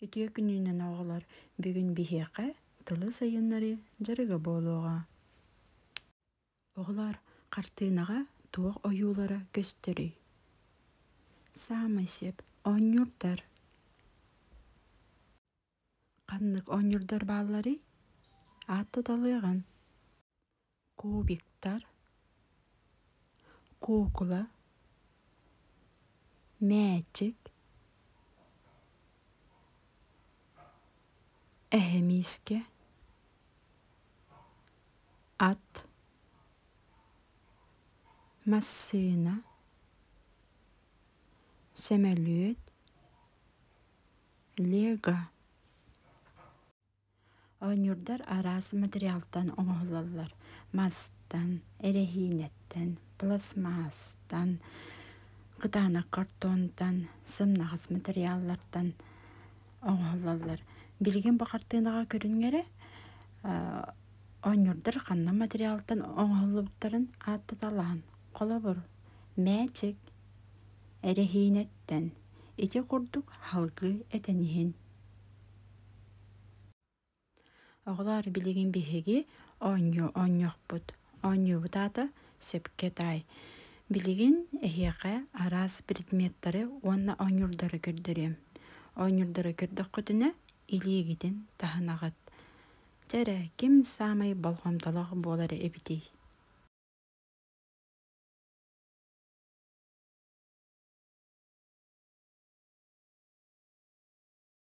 Үтүө күнүүнэн оҕолор бүгүн биһиэхэ тылы сайыннарыы дьарыга буолуоҕа. Оҕолор хартыынаҕа туох ойуулара көстөрүй? Саамай сөп оонньуурдар. Ханнык оонньуурдар баалларый? Аат туталыаҕын. кубиктар куукула мээчик эһэ миискэ ат массыына сөмөлүөт лего Оонньуурдар араас материалтан оҥоһуллаллар: мастан, эрэһиинэттэн, пластмассаттан, кытаанах картонтан, сымнаҕас материаллартан оҥоһуллаллар. Билигин бу хартыынаҕа көрүҥҥэрэ оонньуурдар ханна материалтан оҥоһуллубуттарын ааттаталаан, холобур, мээчик, эрэһиинэттэн, ити курдук салгыы этэн иһин Оҕолоор билигин биһиги оонньуу оонньуохпут. Оонньуубут аата сөпкө таай. Билигин эһиэхэ араас предметтары уонна оонньуурдары көрдөрүөм. Оонньуурдары көрдөххүтүнэ илиигитин таһынаҕыт. Дьэ эрэ ким саамай болҕомтолоох буолар эбитий?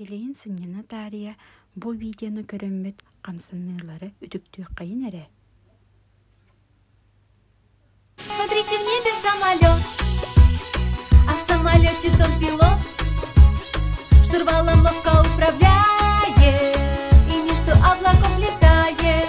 Билигин сынньана таарыйа бу видеоны көрөммүт хамсаныылары үтүктүөххэйин эрэ. Смотрите мне без самолет А в самолете тот пилот Штурвалом мовка управляет И между облаков летает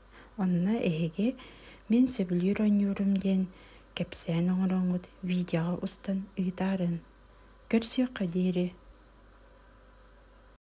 Онно эһиги «Мин сөбүлүүр оонньуурум» диэн кэпсээн оҥороҥҥут видеоҕа устан ыытаарыҥ. Көрсүөххэ диэри